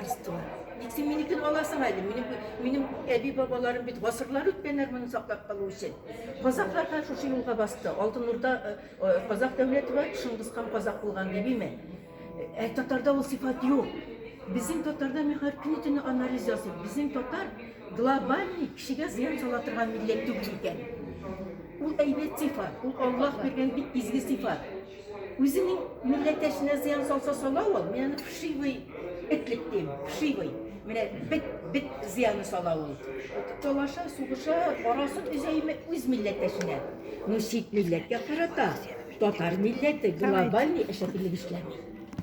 Арстыла. Ник син минекен аласың әле? Минем, минем әби бабаларым бит гасырлар үткәннәр моны саклап калу өчен. Казаклар да шушы юлга басты. Алтын Урда э, э, казак дәүләте бар, Шыңгыз хан казак булган дибиме? Ә татарда ул сифат юк. Безнең татарда мин һәр көне төне анализ ясыйм. Безнең татар глобальный кешегә зыян сала торган милләт түгел икән. Ул әйбәт сифат, ул Аллаһ биргән бик изге сифат. Үзенең милләттәшенә зыян салса сала ул, мин аны вшивый этлек дим, вшивый. Менә бит бит зыяны сала ул. Талаша, сугыша, арасын өзәйме үз милләттәшенә. Ну чит милләткә карата татар милләте глобальный әшәкелек эшләми.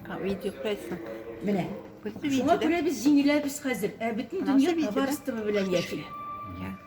А видео кайсы? Менә. Шуңа күрә без җиңеләбез хәзер. Ә бөтен дөнья товарство белән яши.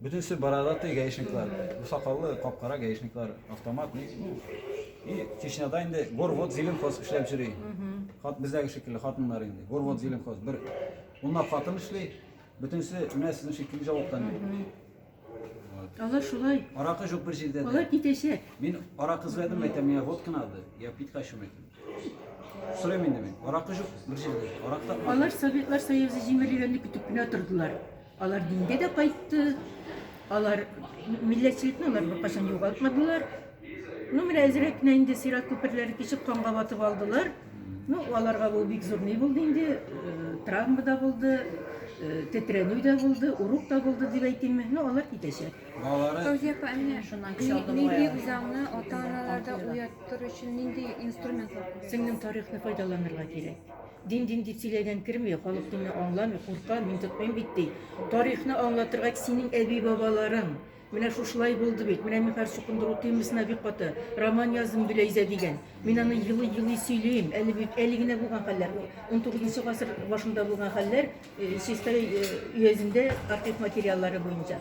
Бөтенесе бородатый гаишниклар, бу сакаллы кап-кара гаишниклар, автомат ни. И Чечняда инде горвод зеленхоз эшләп йөри. Хат бездәге шикелле хатыннар инде. Горвод зеленхоз бер унлап хатын эшли, бөтенесе менә сезнең шикелле җавыктан. Алар шулай. Аракы җук бер җирдә. Алар китәчәк. Мин аракы эзләдем, әйтәм, миңа водка надо. Я пить хочу, әйтәм. Сорыйм инде мин. Аракы җук бер җирдә. Аракы тапмадым. Алар Советлар Союзы җимерелгәнне көтеп кенә тордылар. Алар дингә дә кайтты, алар милләтчелекне алар беркайчан югалтмадылар. Ну, менә әзрәк кенә инде сират күперләре кичеп канга батып алдылар. Ну, аларга бу бик зур ни булды инде, э, травма да булды, э, тетрәнү дә булды, урук та булды дип әйтимме. Ну, алар китәчәк. Балалары Фәүзия апа, ә менә Шуннан көч ни- алдым нинди баягы. үзаңны ата-аналарда уяттыру өчен нинди инструментлар кулланасыз? Сеңлем тарихны файдаланырга кирәк. Дин, дин дип сөйләгән керми, халык динне аңламый, курка, мин тотмыйм бит ди. Тарихны аңлатырга синең әби-бабаларың, менә шушылай булды бит, менә мин хәзер чукындыру утыймысына бик каты, роман язым Гөләйзә дигән. Мин аны елый-елый сөйлим, әле бит әле генә булган хәлләр, 19 гасыр башында булган хәлләр Чистай өязендә архив материаллары буенча.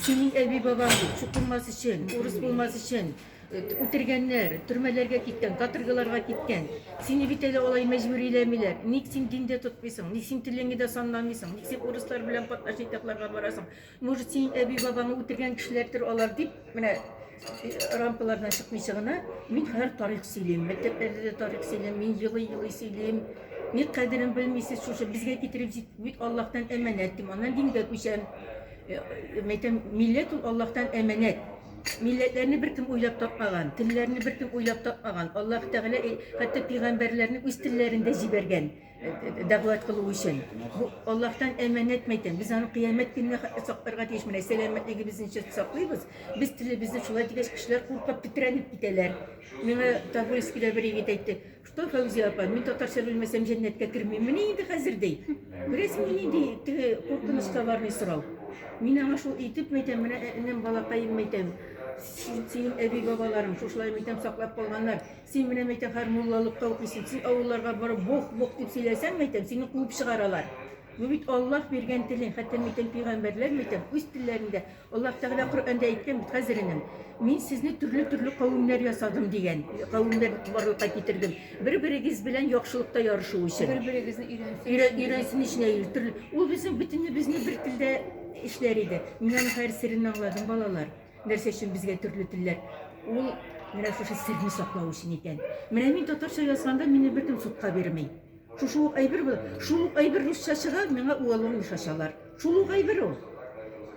Синең әби-бабаң бит, чукынмас өчен, урыс булмас өчен, Үтергәннәр, төрмәләргә киткән, каторгаларга киткән. Сине бит әле алай мәҗбүриләмиләр. Ник син дин дә тотмыйсың? Ник син телеңне дә санламыйсың? Ник син урыслар белән катнашып якларга барасың? Может, синең әби-бабаңны үтергән кешеләрдер алар? дип, менә рампалардан чыкмыйча гына, мин хәзер тарих сөйлим. Мәктәпләрдә дә тарих сөйлим, мин елый-елый сөйлим. Ник кадерен белмисез, шушы безгә китереп җит, бит Аллаһтан әманәт, дим. Аннан дингә күчәм. Мәйтәм, милләт ул Аллаһтан әманәт. Милләтләрне беркем уйлап тапмаган, телләрне беркем уйлап тапмаган. Аллаһ Тәгалә э, хәтта пигамбәрләрне үз телләрендә җибәргән э, э, дәгъват кылу өчен. Бу Аллаһтан әманәт мәйтәм. Без аны кыямәт көненә ха- сакларга тиеш. Менә сәламәтлегебезне чат саклыйбыз. Без телебезне шулай дигәч, кешеләр куркып тетрәнеп китәләр. Миңа Тобольскида бер егет әйтте, Что, Фәүзия апа, мин татарча белмәсәм җәннәткә кермиммени инде хәзер ди. Күрәсеңме нинди теге куркыныч товарный сорау. Мин аңа шул итеп мәйтәм, менә энем балакаем мәйтәм. Син әби бабаларың шушылай мәйтәм саклап калганнар. Син менә мәйтәм хәр муллалыкка укыйсың. Син авылларга барып бох бох дип сөйләсәң мәйтәм, сине куып чыгаралар. Бу бит Аллаһ биргән телең, хәтта мәйтәм пигамбәрләр мәйтәм үз телләрендә Аллаһ Тәгалә Коръәндә әйткән бит, хәзеренем, Мин сезне төрле-төрле кавемнәр ясадым дигән. Кавемнәр барлыкка китердем. Бер-берегез белән яхшылыкта ярышу өчен. Бер-берегезне өйрәнсен. Өйрәнсен өчен төрле. Ул безнең бөтенебезне бер телдә эшләр иде. Мин аның һәр серен аңладым, балалар. Нәрсә өчен безгә төрле телләр? Ул менә шушы серне саклау өчен икән. Менә мин татарча язганда мине беркем судка бирми. Шушы ук әйбер бу. Шул ук әйбер русча чыга, миңа уалуын йошачалар. Шул ук әйбер ул.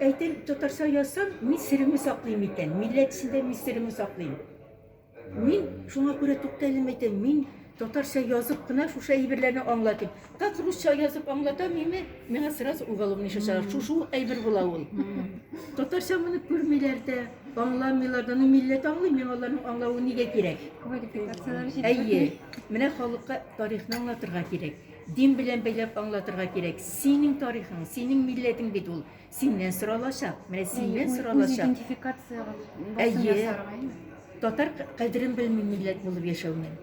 Әйтәм, татарча язсам, мин серемне саклыйм икән, милләт эчендә мин серемне саклыйм. Мин шуңа күрә тукталем әйтәм, мин татарча язып кына шушы әйберләрне аңлатыйм. Как русча язып аңлатам име, миңа сразу уалуын йошачалар. Шушы ук әйбер була ул. Татарча моны күрмиләр дә, аңламыйлар да. Ну, милләт аңлый, миңа аларның аңлавы нигә кирәк? Квалификацияләре җитмәгән. Әйе. Менә халыкка. Тарихны аңлатырга кирәк. Дин белән бәйләп аңлатырга кирәк. Синең тарихың, синең милләтең бит ул. Синнән соралачак. Менә синнән соралачак. Идентификация басым ясарга. Татар кадерен белми милләт булып яшәүнең.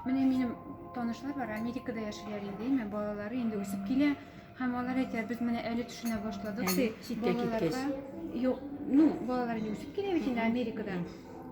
Менә минем танышлар бар, Америкада яшиләр инде, әмма балалары инде үсеп килә. Һәм алар әйтә, без менә әле төшенә башладык, Әле, ди, читкә балаларга. киткәч. Юк, ну, балалар инде үсеп килә бит инде Америкада.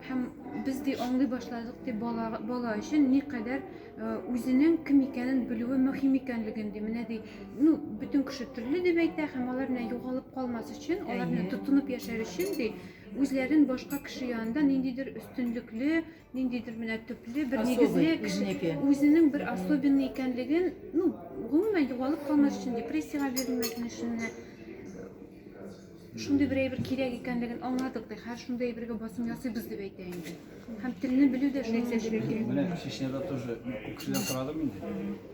Һәм без ди аңлый башладык, ди, бала, бала өчен никадәр э, үзенең кем икәнен белүе мөһим икәнлеген, ди. Менә ди, ну, бөтен кеше төрле дип әйтә, һәм алар менә югалып калмас өчен, алар менә Әйе. тотынып яшәр өчен, ди, үзләрен башка кеше янында ниндидер өстенлекле, Ниндидер менә төпле бер нигезле кеше үзенең бер особенный икәнлеген, ну, гомумән югалып калмас өчен, депрессиягә бирелмәсен өчен менә шундый бер әйбер кирәк икәнлеген аңладык ди. Хәзер шундый әйбергә басым ясыйбыз дип әйтә инде. Һәм телне белү дә шуның өчен. Менә Чечняда тоже күкшедән сорадым инде.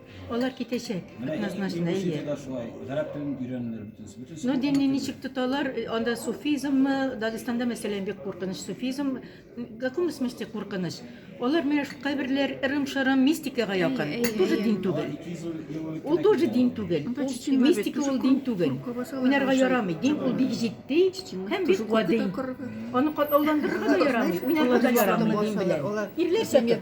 Алар китәчәк, однозначно, әйе. Менә да шулай, гарәп телен өйрәнүләр бөтенесе. Бөтенесе. Ну, динне ничек тоталар, э, анда суфизммы, Дагестанда, мәсәлән, бик куркыныч суфизм, в каком смысле куркыныч? Алар менә кайберләр ырым-шырым мистикага якын. Ул тоже дин түгел. Ул тоже дин түгел. Ул мистика ул дин түгел. Уйнарга ярамый. Дин ул бик җитди һәм бик гади. Аны катлауландырырга да ярамый, уйнарга да ярамый дин белән. Ирләр сәке.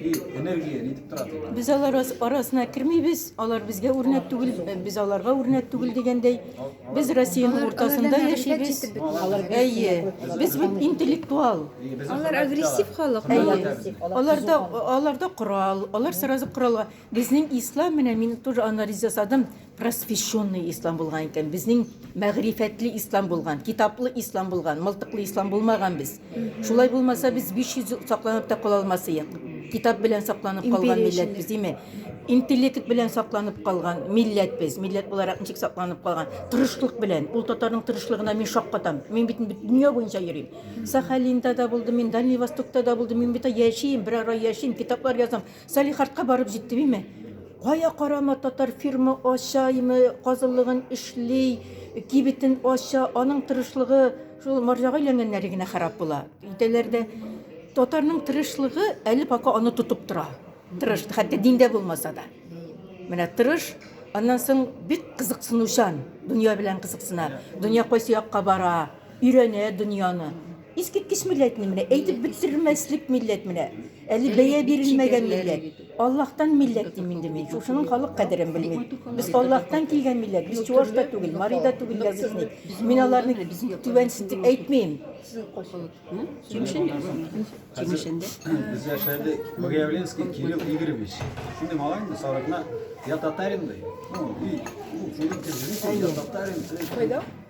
И энергия нитеп тора ди. Без алар арасына кермибез, алар безгә үрнәк түгел, э, без аларга үрнәк түгел дигәндәй. Без Россиянең уртасында яшибез. Әйе, без бит интеллектуал. Алар агрессив халык. Әйе. Аларда аларда корал, алар сразу коралга. Безнең ислам менә мин тоже анализ ясадым. Просвещенный ислам булган икән, безнең мәгърифәтле ислам булган, китаплы ислам булган, мылтыклы ислам булмаган без. Шулай булмаса, без 500 ел сакланып та кала алмас идек. Китап белән сакланып калган Империя милләт без, димме? Интеллект белән сакланып калган милләт без. Милләт буларак ничек сакланып калган? Тырышлык белән. Ул татарның тырышлыгына мин шаккатам. Мин бит бит дөнья буенча йөрим. Сахалинда да булдым, мин Дальний Востокта да булдым, мин бит яшим, берара яшим, китаплар язам. Салихардка барып җиттебиме, кая карама татар фирма ачаймы, казылыгын эшли, кибетен ача, аның тырышлыгы шул марҗага өйләнгәннәре генә харап була. Өйдәләр дә татарның тырышлыгы әле пока аны тотып тора. Тырыш, хәтта диндә булмаса да. Менә тырыш, аннан соң бик кызыксынучан, дөнья белән кызыксына. Дөнья кайсы якка бара, өйрәнә дөньяны. Искиткеч милләт ни менә, әйтеп бетермәслек милләт менә. Әле бәя бирелмәгән милләт. Аллаһтан милләт дим инде мин. Шушының халык кадерен белми. Без Аллаһтан килгән милләт. Без чуваш та түгел, мари да түгел язычник. Мин аларны түбәнсетеп әйтмим. Без яшәде Богоявленский Кирилл Игоревич. Şimdi malayım da sarıkla ya Tatarim de. Ну, и, ну, Филипп Киржевич, я Татарин. Кайда?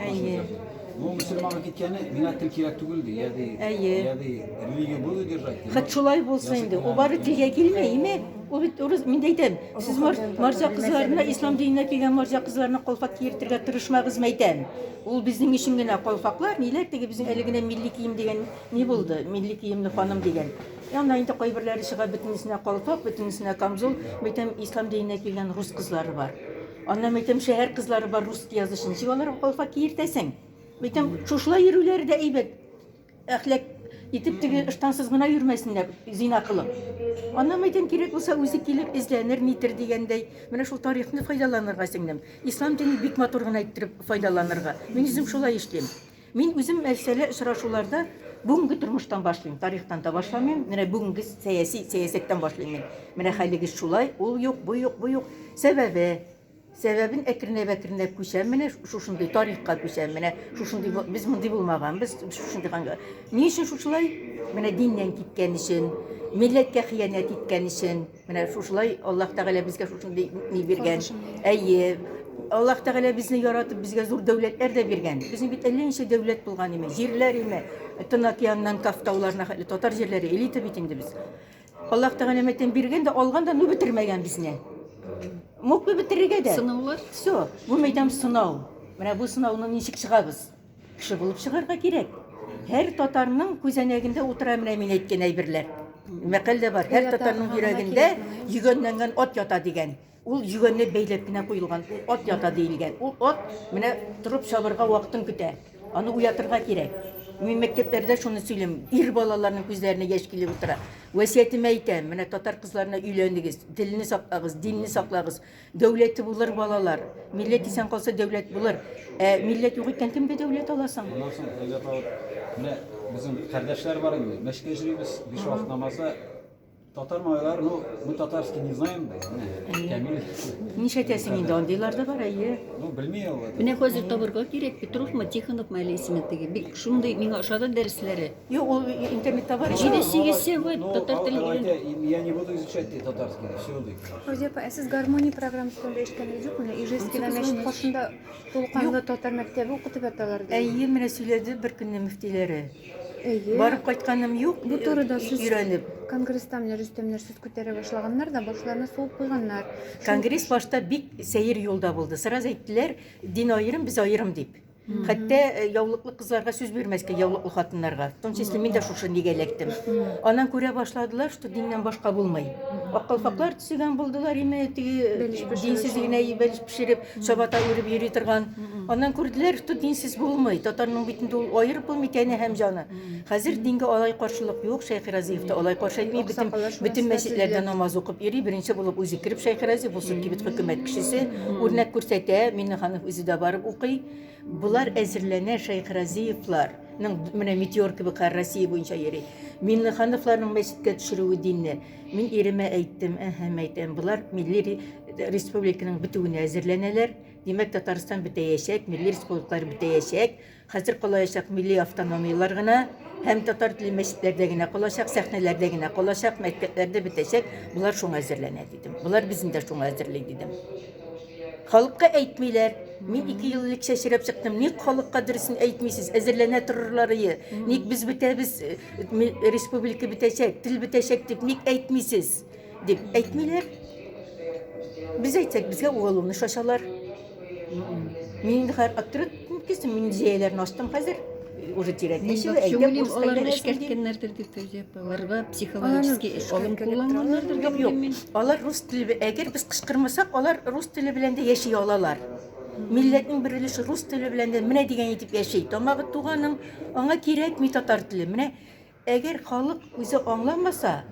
Әйе. Ну, мусульманга киткәне, миңа тел кирәк түгел ди, я ди, Әйе. я ди, религию буду держать. ди. Хәт шулай булса инде. Язык Ул бары менә. телгә килми, име? Ул бит урыс, мин дә әйтәм. Сез мар- марҗа кызларына, ислам диненә килгән марҗа кызларына калфак киертергә тырышмагыз, мәйтәм. Ул безнең өчен генә калфаклар, ниләр теге безнең әле генә милли кием дигән ни булды? Милли киемле ханым дигән. Ә анда инде кайберләре чыга, бөтенесенә калфак, бөтенесенә камзул. Мәйтәм, ислам диненә килгән рус кызлары бар. Аннан бөтен шәһәр кызлары бар русский язучы, ничек аларга калфак киертәсең? Бөтен шушылай йөрүләре дә әйбәт. Әхләк итеп теге ыштансыз гына йөрмәсеннәр, зина кылып. Аннан бөтен кирәк булса үзе килер, эзләнер, нитер дигәндәй. Менә шул тарихны файдаланырга, сеңлем. Ислам дине бик матур гына иттереп файдаланырга. Мин үзем шулай эшлим. Мин үзем мәсьәлә очрашуларда бүгенге тормыштан башлыйм, тарихтан да башламыйм. Менә бүгенге сәяси сәясәттән башлыйм мин. Менә хәлегез шулай, ул юк, бу юк, бу юк. Сәбәбе, сәбәбен әкренләп-әкренләп күчәм, менә шушындый тарихка күчәм, менә шушындый без мондый булмаганбыз, шушындый ханга. Ни өчен шушылай? Менә диннән киткән өчен, милләткә хыянәт иткән өчен. Менә шушылай Аллаһ Тәгалә безгә шушындый ни биргән. Әйе. Аллаһ Тәгалә безне яратып, безгә зур дәүләтләр дә биргән. Безнең бит әллә ничә дәүләт булган име, җирләр име. Тын океаннан Каф тауларына хәтле татар җирләре элита бит инде без. Аллаһ Тәгалә мәтен биргән дә, алган да, ну бетермәгән безне. Мог бы бетерергә дә. Сынаулар? Все. Бу мәйдан сынау. Менә бу сынауны ничек чыгабыз? Кеше булып чыгарга кирәк. Һәр татарның күзәнәгендә утыра менә мин әйткән әйберләр. Мәкаль дә бар. Һәр татарның йөрәгендә йөгәнләнгән ат ята дигән. Ул йөгәнне бәйләп кенә куелган ат ята диелгән. Ул ат менә торып чабырга вакытын көтә. Аны уятырга кирәк. Мин мәктәпләрдә шуны сөйлим. Ир балаларның күзләренә яшь килеп утыра. Васиятемә әйтәм, менә татар кызларына өйләнегез, телне саклагыз, динне саклагыз. Дәүләте булыр балалар. Милләт исән калса, дәүләт булыр. Ә милләт юк икән, кемгә дәүләт аласың? Моннан соң дәүләт алып, менә безнең кардәшләр бар инде, мәчеткә йөрибез, биш вакыт намазда. Татар малайлар, ну, мы татарский не знаем, менә, Камил. Нишәтәсең инде, андыйлар да бар, әйе. Ну, белми ул. Менә хәзер табырга кирәк, Петровмы, Тихоновмы әле исеме теге. Бик шундый миңа ошады дәресләре. Юк, ул интернет товар. Җидесеге сегодня татар теле өйрәнә. Я не буду изучать татарский, все ди. Розепа, ә сез гармония программасы турында ишеткәнегез юкмы? Ижевский һәм Мәчет каршында тулканлы татар мәктәбе укытып яталар ди. Әйе, менә сөйләде бер көнне мөфтиләре. Әйе. Барып кайтканым юк. Бу турыда сүз өйрәнеп. Конгресста менә Рөстәмнәр сүз күтәрә башлаганнар да, башларына суып куйганнар. Конгресс башта бик сәер юлда булды. Сразу әйттеләр, дин аерым, без аерым дип. Хәтта э, яулыклы кызларга сүз бирмәскә яулыклы хатыннарга. В том числе мин дә шушы нигә эләктем. Анан күрә башладылар, что диннән башка булмый. Аккалфаклар төсегән булдылар име, теге динсез генә бәлеш пешереп, чабата үреп йөри торган. Аннан күрделәр, что динсез булмый. Татарның бит инде ул аерып булмый тәне һәм җаны. Хәзер динге алай каршылык юк, Шәйхи Разиев та алай каршы әйтми, бөтен, бөтен мәчетләрдә намаз укып йөри, беренче булып үзе кереп Шәйхи Разиев, ул чөнки бит хөкүмәт кешесе, үрнәк күрсәтә, Миннеханов үзе дә барып укый. Болар әзерләнә, Шәйхи Разиевлар, менә метеор кебек хәр Россия буенча йөри. Миннехановларның мәчеткә төшерүе динне. Мин иремә әйттем, әһәм әйтәм, болар милли республиканың бетүенә әзерләнәләр. Димәк, Татарстан бетәячәк, милли республикалар бетәячәк. Хәзер калаячак милли автономияләр генә һәм татар телле мәчетләрдә генә калачак, сәхнәләрдә генә калачак, мәктәпләрдә бетәчәк. Болар шуңа әзерләнә дидем. Болар безне дә шуңа әзерли дидем. Халыкка әйтмиләр. Мин ике ел элек чәчрәп чыктым. Ник халыкка дөресен әйтмисез? Әзерләнә торырларые. Ник без бетәбез, э, ми- республика бетәчәк, тел бетәчәк дип ник әйтмисез? Дип әйтмиләр. Без әйтсәк, безгә уголовный шачалар. Мин инде хәзер аптырап киттем, мин зәяләрне астым хәзер. Уже терять нечего, әйдә курс аларны эшкәрткәннәрдер дип төзеп, аларга психологический алым кулланганнардыр дип юк. Алар рус теле, әгәр без кычкырмасак, алар рус теле белән дә яши алалар. Милләтнең бер өлеше рус теле белән дә менә дигән итеп яши. Тамагы туганың, аңа кирәкми татар теле. Менә әгәр халык үзе аңламаса,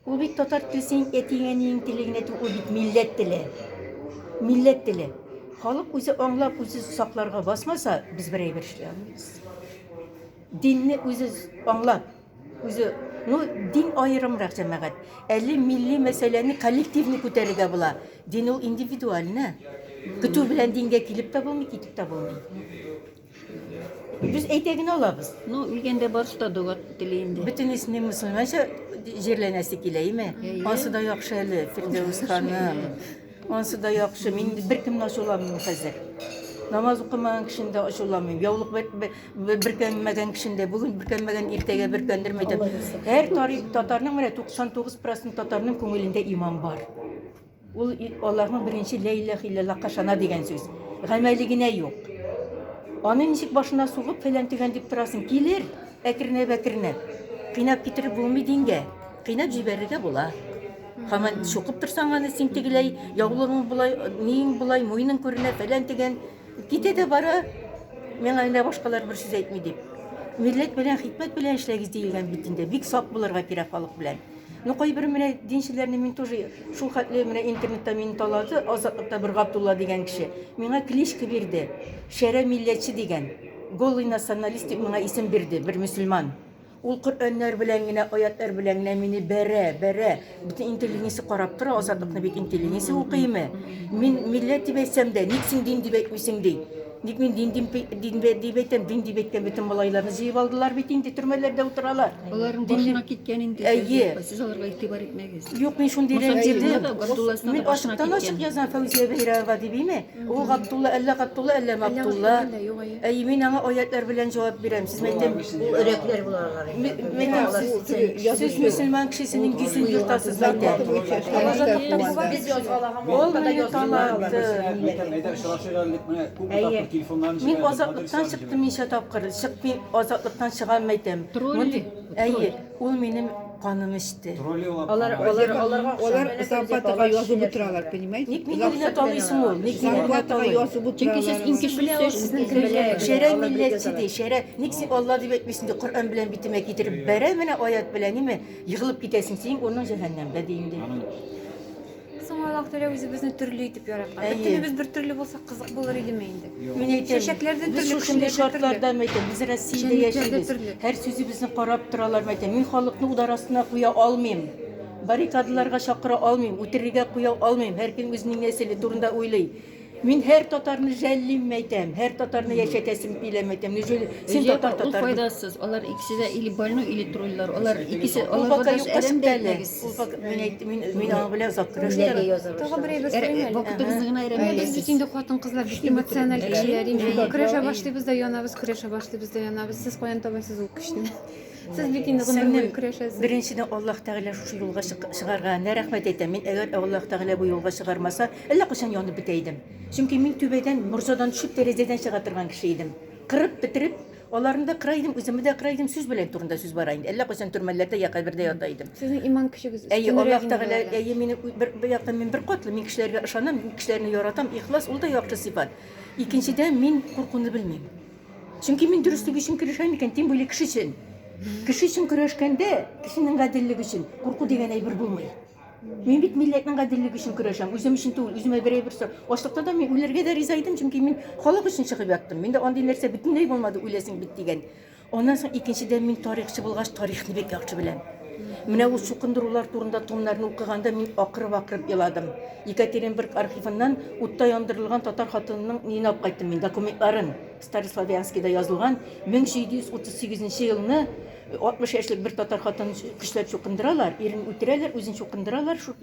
Ул бит татар теле синең әтиең-әниең теле генә түгел, ул бит милләт теле. Милләт теле. Халык үзе аңлап, үзе сакларга басмаса, без бер әйбер эшли алмыйбыз. Динне үзе аңлап, үзе, ну, дин аерымрак җәмәгать. Әле милли мәсьәләне коллективный күтәрергә була. Дин ул индивидуальне. Көтү белән дингә килеп тә булмый, китеп тә булмый. Без әйтә генә алабыз. Ну, үлгәндә барысы да дога тели инде. Бөтен исми мөселманча җирләнәсе килә, име? Ансы да яхшы әле, Фирдәвес ханым. Ансы да яхшы. Мин беркемне ачуламыйм хәзер. Намаз укымаган кешене дә ачуламыйм. Яулык бөркәнмәгән кешене дә, бүген бөркәнмәгән, иртәгә бөркәндермәдем. Һәр тарих татарның менә 99% татарның күңелендә иман бар. Ул Аллаһның беренче лә иләһ илләллаһка ышана дигән сүз. Гамәле генә юк. Аны ничек башына сугып фәлән-төгән дип торасың? Килер, әкренәп-әкренәп. Кыйнап китереп булмый дингә. Кыйнап җибәрергә була. Һаман чукып торсаң аны син тегеләй, яулыгың болай, ниең болай, муеның күренә, фәлән-төгән. Китә дә бара, миңа генә башкалар бер сүз әйтми дип. Милләт белән, хикмәт белән эшләгез диелгән бит инде. Бик сак булырга кирәк халык белән. Ну кайбер менә динчеләрне мин тоже шул хәтле менә интернетта мине талады, Азатлыкта бер Габдулла дигән кеше. Миңа кличка бирде. Шәрә милләтче дигән. Голый националист дип миңа исем бирде, бер мөселман. Ул Коръәннәр белән генә, аятьләр белән генә мине бәрә, бәрә. Бөтен интеллигенция карап тора, Азатлыкны бит интеллигенция укыймы? Мин милләт дип әйтсәм дә, ник син дин дип әйтмисең, ди. Ник мин дин дим, дин бе- дип әйтәм, дин дип әйткән бөтен малайларны җыеп алдылар бит инде, төрмәләрдә утыралар. Аларның Дин- башына киткән инде. Әйе. сез- Сез аларга игътибар итмәгез. Юк, мин шундый Муса Бәйрәмгә рәнҗедем. дә, Габдулласына Мин да башына ачыктан ачык киткән. язам Фәүзия Бәйрәмова дибиме? Ул Габдулла, әллә Габдулла, әллә Мабдулла. Габдулла, юк, әйе. Әй, мин аңа аятьләр белән җавап бирәм. Сез мәйтәм, Ул өрәкләр булалар. Ме- мәйтәм, Алар сез- сез- сез мөселман кешесенең йөзен ертасыз мәйтәм. Без язгалага Ул мине талатты. Әйе. Мин азатлыктан чыктым ничә тапкыр. Чыкмыйм, азатлыктан чыгам әйтәм. Мондый, әйе, ул минем каным эчте. Алар алар аларга Алар зарплатага язып утыралар, понимаете? Ник мине генә талыйсың ул? Ник мине генә Зарплатага талый? язып Чөнки сез иң утыралар. кечесе, сезнең кебекләр. Шәрә милләтче ди, шәрә. Ник син Алла дип әйтмисең ди, Коръән белән битемә китереп бәрә менә аять белән, ниме, егылып китәсең, синең урының җәһәннәмдә, ди инде. Соң Аллаһ Тәгалә үзебезне төрле итеп яраткан. Әйе. Бөтенебез бер төрле булсак кызык булыр идеме инде? Мин әйтәм, Чәчәкләр дә без төрле, шушындый кешеләр дә төрле. шартларда мәйтәм, без Россиядә Җәнлекләр дә яшибез. төрле. Һәр сүзебезне карап торалар мәйтәм. Мин халыкны удар астына куя алмыйм. Баррикадаларга чакыра алмыйм, үтерергә куя алмыйм. Һәркем үзенең нәселе турында уйлый. Мин һәр татарны жәллим әйтәм, һәр татарны яшәтәсем килә әйтәм. Ни өчен син татар татар? Ул файдасыз. Алар икесе дә или больной, или троллар. Алар икесе алар файдасы юк кыз әле. Ул фак мин әйт мин мин аңа белән озак көрәштем. Тагы бер әйбер сөйләмәле. Вакытыбызны гына әйрәмәле. Без бит инде хатын кызлар бик эмоциональ кешеләр инде. Көрәшә башлыйбыз да янабыз, көрәшә башлыйбыз да янабыз. Сез каян табасыз ул көчне? Сез бит инде гомер буе көрәшәсез. Беренчедән Аллаһ Тәгалә шушы юлга чыгарга генә рәхмәт әйтәм. Мин әгәр Аллаһ Тәгалә бу юлга чыгармаса, әллә кайчан янып бетә идем. Чөнки мин түбәдән, морҗадан төшеп, тәрәзәдән чыга торган кеше идем. Кырып бетереп, аларны да кыра идем, үземне дә кыра идем, сүз белән турында сүз бара инде. Әллә кайчан төрмәләрдә я кабердә ята идем. Сезнең иман көчегез Әйе, өстенрәк Аллаһ инде Тәгалә, болардан. әйе, мине бер, бер яктан мин бер катлы, мин кешеләргә ышанам, мин кешеләрне яратам, ихлас, ул да яхшы сыйфат. Икенчедән, мин куркуны белмим. Чөнки мин дөреслек өчен көрәшәм икән, тем более кеше өчен. Кеше өчен көрәшкәндә, кешенең гаделлеге өчен курку дигән әйбер булмый. Мин бит милләтнең гаделлеге өчен көрәшәм, үзем өчен түгел, үземә берәй бер сорау. Ачлыкта да мин үләргә дә риза идем, чөнки мин халык өчен чыгып яттым. Миндә андый нәрсә бөтенләй булмады, үләсең бит дигән. Аннан соң икенчедән мин тарихчы булгач, тарихны бик яхшы беләм. Менә ул чукындырулар турында томнарны укыганда мин акырып-акырып еладым. Екатеринбург архивыннан утта яндырылган татар хатынының өенә алып кайттым мин документларын. Старославянскида язылган 1738 елны 60 яшьлек бер татар хатын көчләп чукындыралар, ирен үтерәләр, үзен чукындыралар шул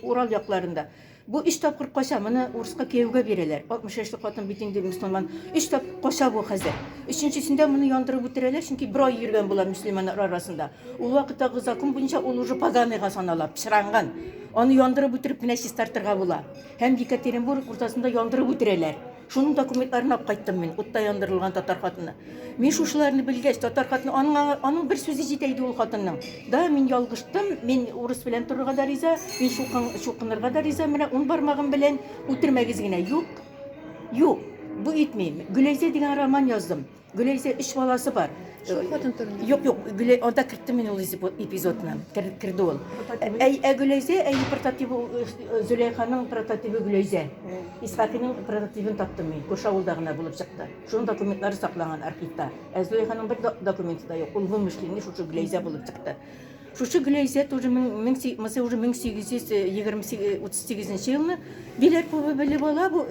Урал якларында. Бу өч тапкыр кача, моны урыска кияүгә бирәләр. 60 яшьлек хатын бит инде мөселман. Өч тапкыр кача бу хәзер. Өченчесендә моны яндырып үтерәләр, чөнки бер ай йөргән була мөселманнар арасында. Ул вакыттагы закон буенча ул уже поганыйга санала, пычранган. Аны яндырып үтереп кенә чистартырга була. Һәм Екатеринбург уртасында яндырып үтерәләр. Шуның документларын алып кайттым мин, утта яндырылган татар хатыны. Мин шушыларны белгәч, татар хатыны, аның, аңа- аның бер сүзе җитә иде ул хатынның. Да, мин ялгыштым, мин урыс белән торырга да риза, мин чукын, чукынырга да риза, менә ун бармагым белән үтермәгез генә. Юк, юк, бу итмим. Гөләйзә дигән роман яздым. Гөләйзә өч баласы бар. Шул хатын турында. Юк, юк, Гөләй, анда керттем мин ул эпизодны. Кер, керде ул. Ә, ә Гөләйзә, ә прототибы Зөләйханың прототибы Гөләйзә. Исхакиның прототибын таптым мин. Күрше авылда гына булып чыкты. Шуның документлары сакланган архивта. Ә Зөләйханың бер документы да юк. Ул вымышленный шушы Гөләйзә булып чыкты. Шушы Гөләйзә тоже 1838 елны Биләрповы белеп ала. Бу,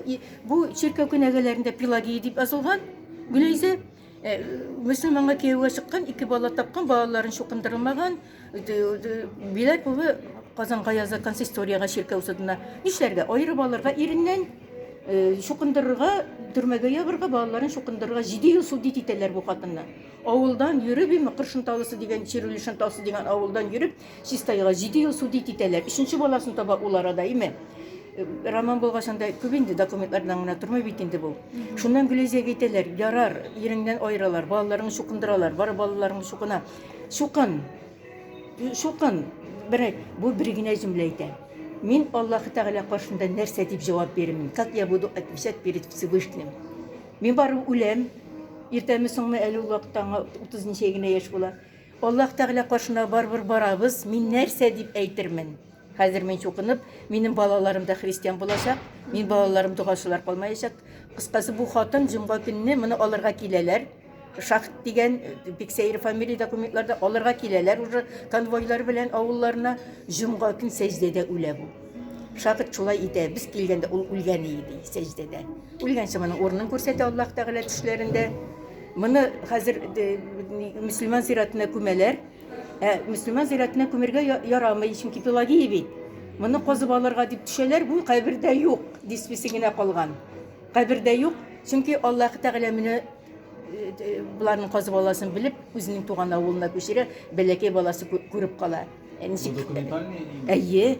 бу чиркәү кенәгәләрендә Пелагия дип язылган. Гөләйзә э, мөселманга кияүгә чыккан, ике бала тапкан, балаларын чукындырылмаган, Биләк улы Казанга яза консисторияга чиркәү судына. Нишләргә? Аерып алырга иреннән чукындырырга, э, төрмәгә ябырга, балаларын чукындырырга 7 ел суд итәләр бу хатынны. Авылдан йөреп, имә Кыршынталысы дигән, Чирүлешен тасы дигән авылдан йөреп, чистайга җиде ел судит итәләр. Өченче баласын таба ул арада, имә Роман булгач, анда күп инде документлардан гына тормый бит инде бу. Шуннан Гөләйзәгә әйтәләр, ярар, иреңнән аералар, балаларың чукындыралар, бар балаларың чукына. Чукын, чукын, берәй, бу бер генә җөмлә әйтә. Мин Аллаһы Тәгалә каршында нәрсә дип җавап бирмим? Как я буду отвечать перед Всевышним? Мин барыбер үләм, иртәме-соңмы, әле ул вакытта аңа утыз ничә генә яшь була. Аллаһ Тәгалә каршына барыбер барабыз, мин нәрсә дип әйтермен? Хәзер мин чукынып, минем балаларым да христиан булачак, мин балаларым догасылар калмаячак. Кыскасы, бу хатын җомга көнне моны алырга киләләр. Шахт дигән бик сәер фамилия документларда алырга киләләр уже конвойлар белән авылларына. Җомга көн сәҗдәдә үлә бу. Шахт шулай итә. Без килгәндә ул үлгән иде сәҗдәдә. Үлгәнче моның урынын күрсәтә Аллаһ Тәгалә төшләрендә. Моны хәзер э, мөселман зиратына күмәләр. Ә мөселман зиратына күмергә ярамый, чөнки Пелагия бит. Моны казып алырга дип төшәләр, бу кабердә юк, диспесе генә калган. Кабердә юк, чөнки Аллаһ Тәгалә менә Боларның казы баласын белеп, үзенең туган авылына күчерә, бәләкәй баласы күреп кала. Ничек? Документальный? Әйе.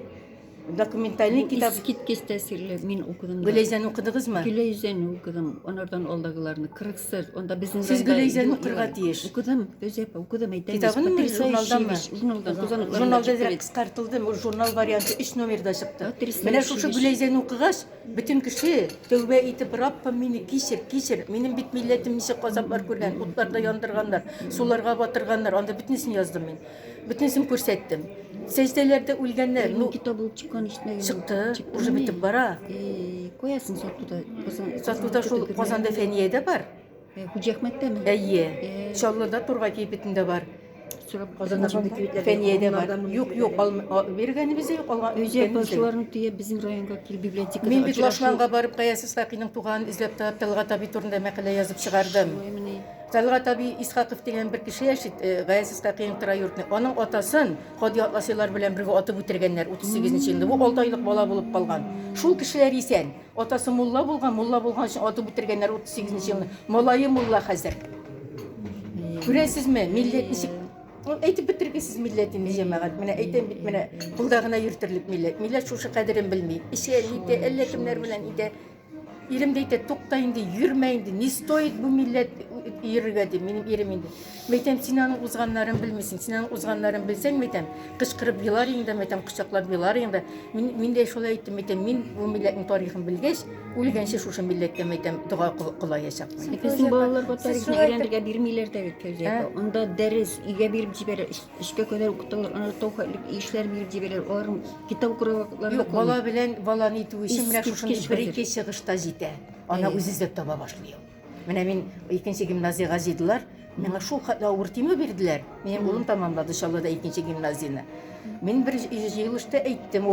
Документальный китап. Искиткеч тәэсирле. Мин укыдым. Гөләйзәне укыдыгызмы? Гөләйзәне укыдым. Анардан алдагыларны кырыксыз. Анда безнең Сез Гөләйзәне укырга тиеш. Укыдым, Гөләйзәпа, укыдым әйтәм. Китабын журналдамы? Журналда. Журналда кыскартылды. Журнал варианты 3 номерда чыкты. Менә шушы Гөләйзәне укыгач, Бөтен кеше, тәүбә итеп, Раббым, мине кичер, кичер, минем бит милләтем ничек газаплар күргән, утларда яндырганнар, суларга батырганнар, анда бөтенесен яздым мин. Бөтенесен күрсәттем. Сәҗдәләрдә үлгәннәр, ну, Китап булып чыккан ишетмәгән. чыкты, Чыкты уже ме? бетеп бара. Э, Куясың сатуда. Казан- Сатуда шул Казанда Фәниядә бар. Э, Хуҗиәхмәттәме? Әйе. Э. Чаллыда Тургай кибетендә бар. Сорап Казанда шундый кибетләр Фәниядә бар. Юк, юк, биргәнебез юк, алга. Үзәк басуларын төяп безнең районга кил библиотекада. Мин бит Лашманга барып Каяс Исхакиның туган эзләп тап Талгат аби турында мәкалә язып чыгардым. Талгат аби Исхаков дигән бер кеше яши, Гаяс Исхакиның тора йортны. Аның атасын Ходи Атласилар белән бергә атып үтергәннәр 38 нче елда. Бу 6 айлык бала булып калган. Шул кешеләр исән. Атасы мулла булган, мулла булган өчен атып үтергәннәр 38 нче елны. Малае мулла хәзер. Күрәсезме, милләт ничек Әйтеп бетергесез милләт инде җәмәгать. Менә әйтәм бит, менә кулда гына йөртерлек милләт. Милләт шушы кадерен белми. Эчә, нитә, әллә кемнәр белән итә. Ирем дә әйтә, тукта инде, йөрмә инде. Не стоит бу милләт йөрергә дип, минем ирем инде. Мәйтәм, син аның узганнарын белмисең. Син аның узганнарын белсәң, мәйтәм, кычкырып елар инде, мәйтәм, кочаклап елар инде. Мин, мин дә шулай әйттем, мәйтәм, мин бу милләтнең тарихын белгәч, үлгәнче шушы милләткә, мәйтәм, дога кылаячакмын. Безнең балаларга тарихны өйрәнергә бирмиләр дә бит, Фәүзия ә? апа. Анда дәрес, өйгә биреп җибәрә, өчкә кадәр укыталар, аны тау хәтлек ишләр биреп җибәрә, аларның китап укырга Юк, бала белән баланы итү өчен менә шушындый бер-ике чыгышта җитә. Ана үзе эзләп таба башлый ул. Менә мин икенче гимназиягә җыйдылар. Миңа шул хәтле авыр тимә бирделәр. Минем улым тәмамлады Чаллыда икенче гимназияне. Мин бер җыелышта әйттем,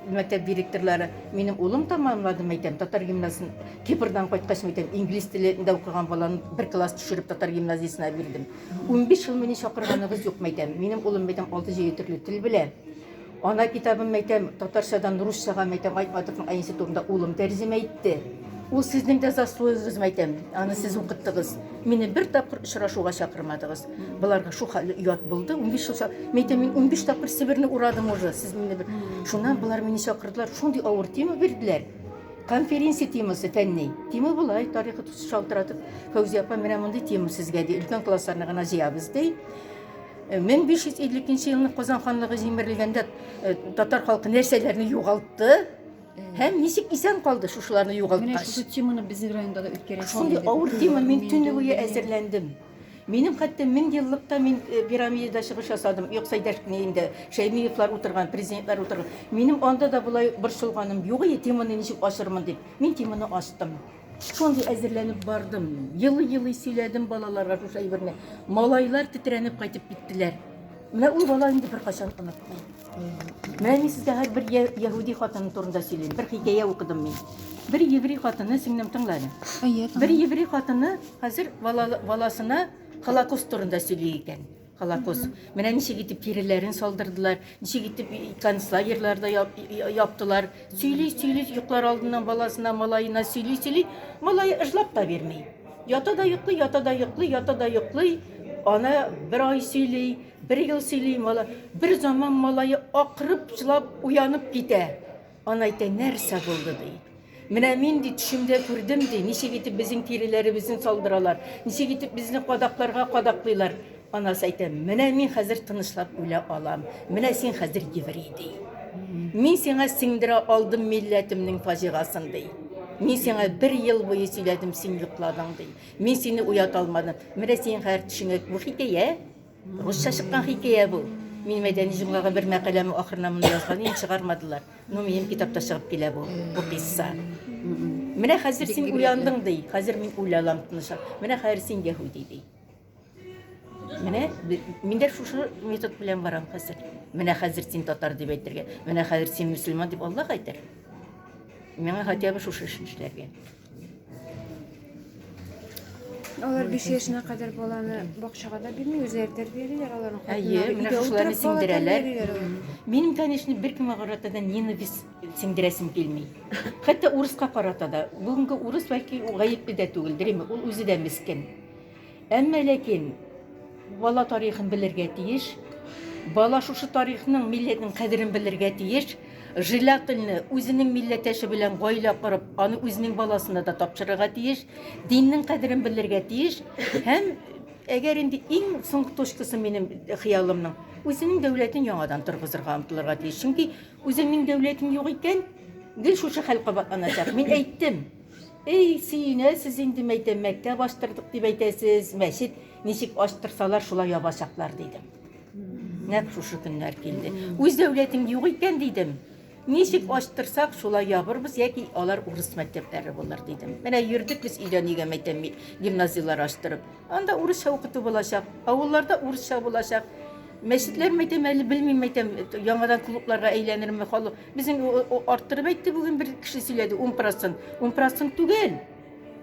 мәктәп директорлары, минем улым тәмамлады, мәйтәм, татар гимназиясен Кипрдан кайткач, мәйтәм, инглиз телендә укыган баланы бер класс төшереп татар гимназиясенә бирдем. 15 ел мине чакырганыгыз юк, мәйтәм. Минем улым, мәйтәм, 6-7 төрле тел белә. Ана китабын, мәйтәм, татарчадан русчага, мәйтәм, Айтматовның әнисе турында улым тәрҗемә итте. Ул сезнең дә заслуегыз, мәйтәм, аны сез укыттыгыз. Мине бер тапкыр очрашуга чакырмадыгыз. Боларга шул хәлле оят булды. Унбиш ел, мәйтәм, мин унбиш тапкыр Себерне урадым уже. Сез мине бер... Шуннан болар мине чакырдылар, шундый авыр тема бирделәр. Конференция темасы фәнни. Тема болай, тарихы шалтыратып, Фәүзия апа, менә мондый тема сезгә, ди, өлкән классларны гына җыябыз, ди. 1552 елның Казан ханлыгы җимерелгәндә татар халкы нәрсәләрне югалтты? Һәм ничек исән калды шушыларны югалткач? Менә шушы теманы безнең районда да үткәрәсе. Шундый авыр тема, мин төне буе әзерләндем. Минем хәтта мең еллыкта мин э, пирамидада чыгыш ясадым. Юкса дәшкенеемдә Шәймиевлар утырган, президентлар утырган. Минем анда да болай борчылганым юк, теманы ничек ачырмын дип. Мин теманы ачтым. Шундый әзерләнеп бардым. Елый-елый сөйләдем балаларга шушы әйберне. Малайлар тетрәнеп кайтып киттеләр. Менә ул бала инде беркайчан онытты. Менә мин сезгә һәр бер яһүди хатыны турында сөйлим. Бер хикәя укыдым мин. Бер еврей хатыны сеңнем тыңлады. Бер еврей хатыны хәзер баласына Холокост турында сөйли икән. Колокос. Менә ничек итеп тиреләрен салдырдылар, ничек итеп концлагерьларда яптылар. Сөйли, сөйли, йоклар алдыннан баласына, малаена сөйли, сөйли. Малае ыжлап та бирми. Ята да йоклый, ята да йоклый, ята да йоклый. Ана бер ай сөйли, бер ел сөйли, мала. Бер заман малае акырып жылап уянып китә. Аны әйтә, нәрсә булды, ди. Менә мин, ди, төшемдә күрдем, ди, ничек итеп безнең тиреләребезне салдыралар, ничек итеп безне кадакларга кадаклыйлар. Анасы әйтә, менә мин хәзер тынычлап үлә алам, менә син хәзер еврей, ди. Мин сиңа сеңдерә алдым милләтемнең фаҗигасын, ди. Мин сиңа бер ел буе сөйләдем, син йокладың, ди. Мин сине уята алмадым. Менә синең хәзер төшеңә бу хикәя. Русча чыккан хикәя бу. Мин Мәдәни җомгага бер мәкаләме ахырына моны язган идем, чыгармадылар. Ну, минем китапта чыгып килә бу, бу кыйсса. Менә хәзер син уяндың, ди. Хәзер мин уйланам тынычлап. Менә хәзер син яһүди, ди. Менә мин дә шушы метод белән барам хәзер. Менә хәзер син татар дип әйтергә, менә хәзер син мөселман дип Аллаһ әйтер. Миңа хотя бы шушы эшне эшләргә. Алар 5 яшенә кадәр баланы бакчага да бирми, үзләре тәрбиялиләр аларның Әйе, хатыннары. менә Өйдә шушыларны утырып бала сеңдерәләр. тәрбиялиләр алар. Мгм. Минем, конечно, беркемгә карата да ненависть сеңдерәсем килми. Хәтта урыска карата да. Бүгенге урыс бәлки гаепле дә түгелдер, әйме, ул үзе дә мескен. Әмма ләкин бала тарихын белергә тиеш. Бала шушы тарихның, милләтнең кадерен белергә тиеш. Желательно үзенең милләтәше белән гаилә корып, аны үзенең баласына да тапшырырга тиеш. Диннең кадерен белергә тиеш. Һәм әгәр инде иң соңгы точкасы минем хыялымның, үзенең дәүләтен яңадан торгызырга омтылырга тиеш. Чөнки үзеңнең дәүләтең юк икән, гел шушы хәл кабатланачак. Мин әйттем. Эй, сөенәсез инде, мәйтәм, мәктәп ачтырдык дип әйтәсез, мәчет ничек ачтырсалар, шулай ябачаклар, дидем. Нәкъ шушы көннәр килде. Үз дәүләтең юк икән, дидем. Ничек ачтырсак, шулай ябырбыз, яки алар урыс мәктәпләре булыр, дидем. Менә йөрдек без өйдән өйгә, мәйтәм, гимназияләр ачтырып. Анда урысча укыту булачак, авылларда урысча булачак. Мәчетләр, мәйтәм, әле белмим, мәйтәм, яңадан клубларга әйләнерме, халык Безнең арттырып әйтте бүген бер кеше сөйләде, 10 процент. 10 процент түгел.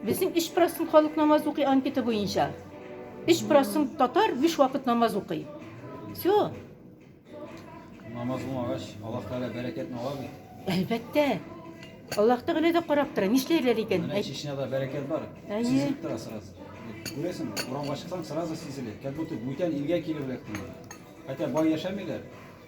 Безнең 3 процент халык намаз укый анкета буенча. 3 процент татар 5 вакыт намаз укый. Все. Намаз укымагач, Аллаһ Тәгалә бәрәкәтне ала бит. Әлбәттә. Аллаһ Тәгалә дә карап тора. Нишләрләр икән? Менә Чечняда бәрәкәт бар. Әйе. Сизелеп тора сразу. Күрәсеңме? Урамга чыксаң, сразу сизелә. Как будто бүтән илгә килеп эләктең. Хотя бай яшәмиләр.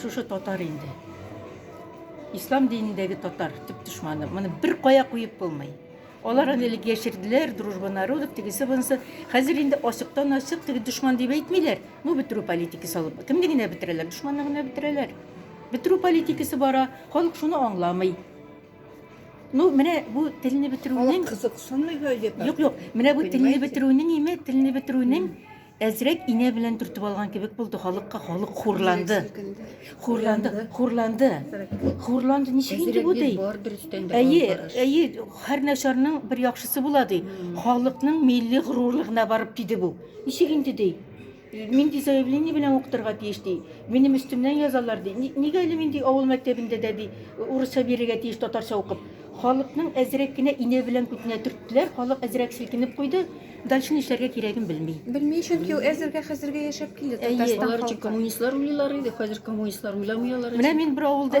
Шушы татар инде. Ислам динендәге татар төп дошманы. Моны бер кая куеп булмый. Алар аны элек яшерделәр, дружба народов, тегесе бунысы. Хәзер инде ачыктан ачык теге дошман дип әйтмиләр. Ну бетерү политикасы алып. Кемне генә бетерәләр? Дошманны гына бетерәләр. Бетерү политикасы бара. Халык шуны аңламый. Ну, менә бу телне бетерүнең кызыксынмый гаҗәп. Юк, юк. Менә бу телне бетерүнең име, телне бетерүнең Әзрәк инә белән төртеп алган кебек булды халыкка, халык хурланды. Хурланды, хурланды. Хурланды, ничек инде бу ди? Әйе, әйе, һәр начарның бер яхшысы була ди. Халыкның милли горурлыгына барып тиде бу. Ничек инде ди? Мин ди заявление белән укытырга тиеш ди. Минем өстемнән язалар ди. Нигә әле мин ди авыл мәктәбендә дә ди урысча бирергә тиеш татарча укып. Халыкның әзрәк кенә инә белән күтенә төрттеләр, халык әзрәк силкенеп куйды. Дальше нишләргә кирәген белми. Белми, чөнки ул әзергә хәзергә яшәп килде Татарстан халкы. Алар өчен коммунистлар уйлыйлар иде, хәзер коммунистлар уйламый алар өчен. Менә мин бер авылда